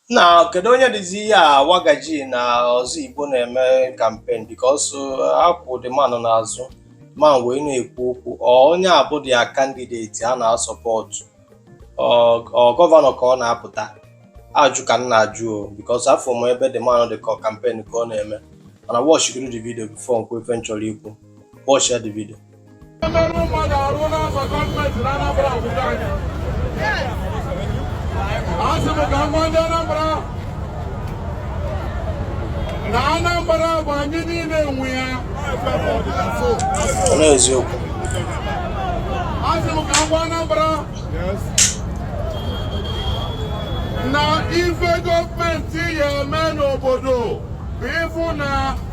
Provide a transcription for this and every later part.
now kedu onye dịzi ya wagaji na Ozigbo na-eme campaign because akwụ the man n'azụ man wee na-ekwu okwu onye a bụ their candidate a na-asọpọtụ ọ gọvanọ ka ọ na-apụta ajụ ka m na-ajụ o because afụ m ebe the man dị ka campaign ka ọ na-eme mana watch godu the video before m kwue ife m chọrọ ikwu watchịa the video na Anambra bụ anyị niile nwe ya n'eziokwu asị m ka m gwa Anambra na ife gọọmenti ya-eme n'obodo bụ ịfụ na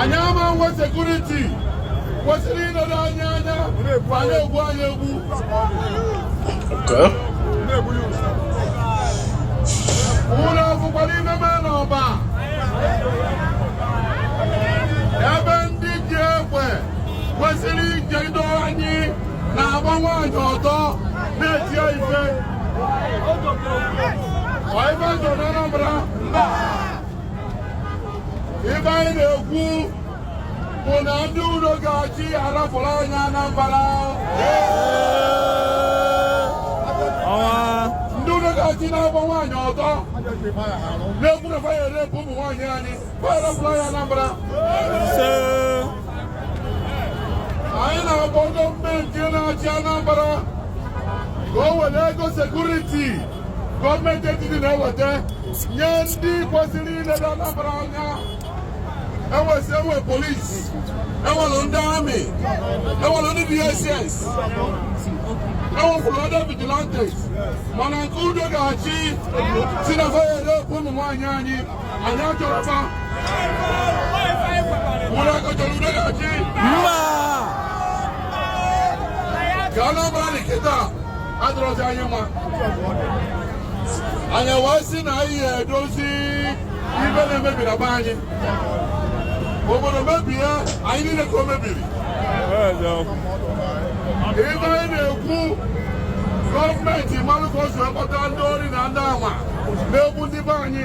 anyị ama nwe sekuriti kwesịrị inedo anyị anya ma na-egbu anyị egbu unu afụkwara ife na-eme n'Ọba ebe ndị ji egbe kwesịrị ichedo anyị na-agba nwaanyị ọtọ na-eti ya ife ife anyị na-ekwu bụ na ndị udo ga-achị arapụrụ anyị Anambra ndị udo ga-achị na-agba nwaanyị ọtọ na-ekwu na fa ya-erepụ ụmụ nwaanyị anyị fa ya-arapụrụ anyị Anambra anyị na-akpọ gọọmenti na-achị Anambra ka o were ego sekuriti gọọmenti etiti na-eweta nye ndị kwesịrị inedo Anambra anya e nwesị e nwe polisi e nwere ndị amị e nwere ndị DSS e nwekwuru ndị vigilantes mana nke udo ga-achị sị na fa ya-erepụ ụmụ nwaanyị anyị anyị wee sị na anyị ya-edozi ife na-emebi na be anyị obodo mebie anyị niile ka o mebiri ife anyị na-ekwu gọọmenti malụ ka o si ewepụta ndị ori na ndị ama na-egbu ndị be anyị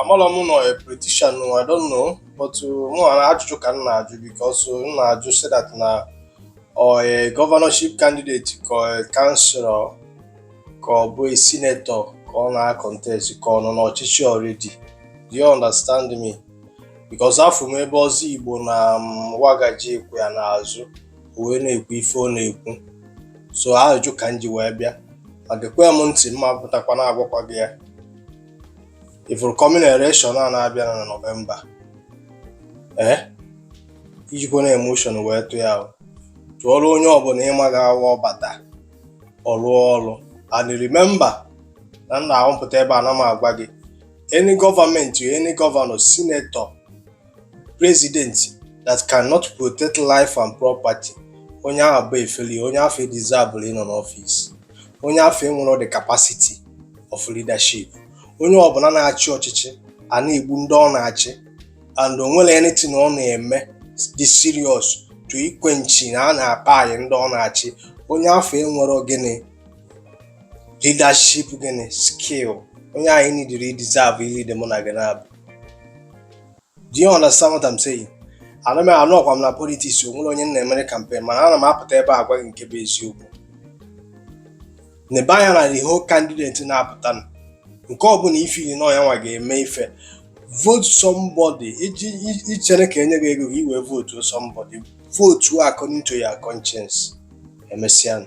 amarọ m n'ọ politician I don't know but uh, mụ nwa ajụjụ ka m na-ajụ because uh, m na-ajụ say that na ọ a uh, governorship candidate ka councilor ka ọ bụ a senator ka ọ na-contest ka ọ nọ n'ọchịchị already do you understand me because afụ m ebe Ozigbo na um, wagaji kwụ ya n'azụ wee na-ekwu ife ọ na-ekwu so ajụjụ ka m ji wee bịa ma gekwe m ntị m na-apụtakwa na-agwakwa gị ya ị fụrụ coming election a na-abịa na November ee ejikwana emotion wee tụ ya tụọrọ onye ọbụla ị ma ga-abụ ọ bata ọ lụọ ọlụ and remember na m na-abụ m pụta ebe a ana m agwa gị any government any governor senator president that cannot protect life and property onye ahụ bụ a failure onye afụ edeserverọ ịnọ n'office onye afụ enwerọ the capacity of leadership onye ọbụla na-achị ọchịchị a na-egbu ndị ọ na-achị and o nwerọ anything ọ na-eme dị serious to iquenchi na a na-akpai ndị ọ na-achị onye afụ enwerọ gịnị leadership gịnị skill onye anyị neediri deserve ilead mụ na gị naabọ Do you understand what I'm saying? Ana m anọrọkwa m na politics o nwerọ onye m na-emere campaign mana ana m apụta ebe a gwa gị nke bụ eziokwu nebe anya na the whole candidate na-apụta nụ. nke ọbụla i feeli na ọ ya nwa ga-eme ife vote somebody iji i- i chere ka e nye gị ego gị wee votuo somebody votuo according to your conscience emesịa nụ.